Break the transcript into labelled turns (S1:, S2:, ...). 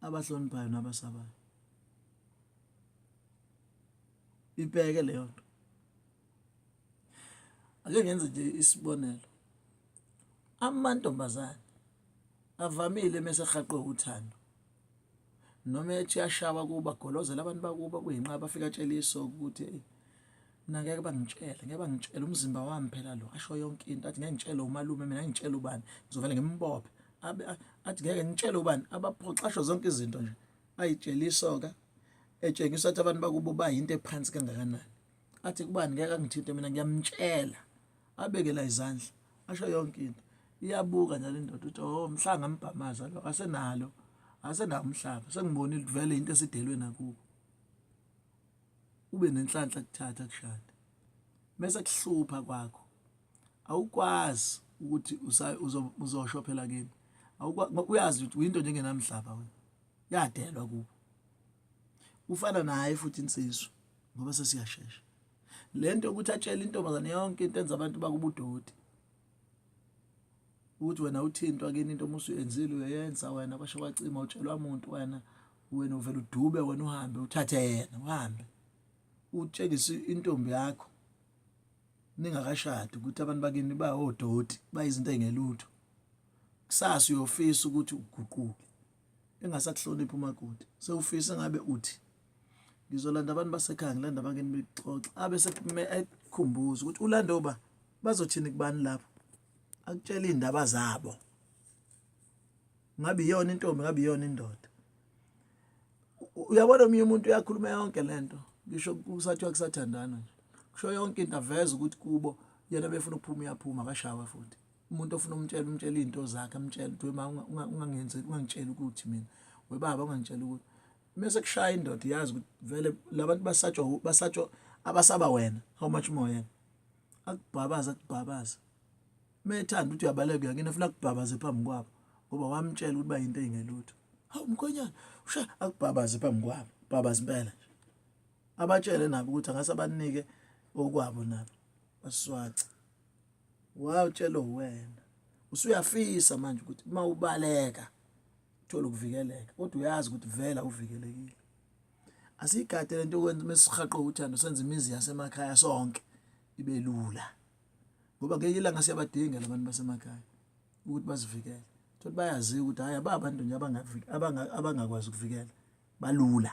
S1: abahloniphayo nabasabayo ibheke leyo nto ake ngenze nje isibonelo amantombazane avamile mesehaqwe uthando noma ethi yashawa kuba golozela abantu bakuba kuyinqa bafika tshela iso ukuthi mina ngeke bangitshele ngeke bangitshele umzimba wami phela lo asho yonke into athi ngeke ngitshele umalume mina ngitshele ubani ngizovele ngimbophe abe athi ngeke ngitshele ubani abaphoxa asho zonke izinto nje ayitshela isoka etshengisa ukuthi abantu bakubo bayinto ephansi kangakanani athi kubani ngeke angithinte mina ngiyamtshela abekela izandla asho yonke into iyabuka njalo indoda ukuthi oh mhlanga mbhamaza lo asenalo asenawo umhlaba sengibonile kuvele into esidelwe nakubo ube nenhlanhla kuthatha kushada mese kuhlupha kwakho awukwazi ukuthi uzosho phela kini uyazi ukuthi uyinto njengenamhlaba wena yadelwa kubo ufana naye futhi insizwa ngoba sesiyashesha lento yokuthi atshele intombazane yonke into enza abantu bakubudoti ukuthi wena uthintwa kini into uma usuyenzile uyoyenza wena basho bacima utshelwa muntu wena wena uvela udube wena uhambe uthathe yena uhambe utshengise intombi yakho ningakashadi ukuthi abantu bakini bayodoti bayizinto engelutho kusasa uyofisa ukuthi uguquke engasakuhloniphi umakoti sewufisa ngabe uthi ngizolanda abantu basekhaya ngilanda abangeni bexoxa abe sekukhumbuza ukuthi ulande uba bazothini kubani lapho akutshela iy'ndaba zabo ngabe iyona intombi ngabe iyona indoda uyabona omunye umuntu uyakhuluma yonke lento ngisho kusathiwa kusathandana nje kusho yonke into aveza ukuthi kubo yena befuna ukuphuma uyaphuma akashawa futhi umuntu ofuna umtshela umtshela izinto zakhe amtshela ukuthi wema ungangenzi ungangitshela ukuthi mina webaba ungangitshela ukuthi mase kushaya indoda iyazi ukuthi vele labantu basatshwa basatshwa abasaba wena how much more yena akubhabaza akubhabaza methanda ukuthi uyabaleka yakini efuna kubhabaze phambi kwabo ngoba wamtshela ukuthi bayinto engelutho hawu mkhonyana usha akubhabaze phambi kwabo bhabaze impela nje abatshele nabo ukuthi angase abanike okwabo nabo baswaca wawutshela wena usuyafisa manje ukuthi uma ubaleka uthola ukuvikeleka kodwa uyazi ukuthi vela uvikelekile asigade lento okwenza mesihaqo uthando senze imizi yasemakhaya sonke ibe lula ngoba ngeke ilanga siyabadinga labantu basemakhaya ukuthi bazivikele thothi bayaziwa ukuthi hhayi aba bantu nje abangakwazi ukuvikela balula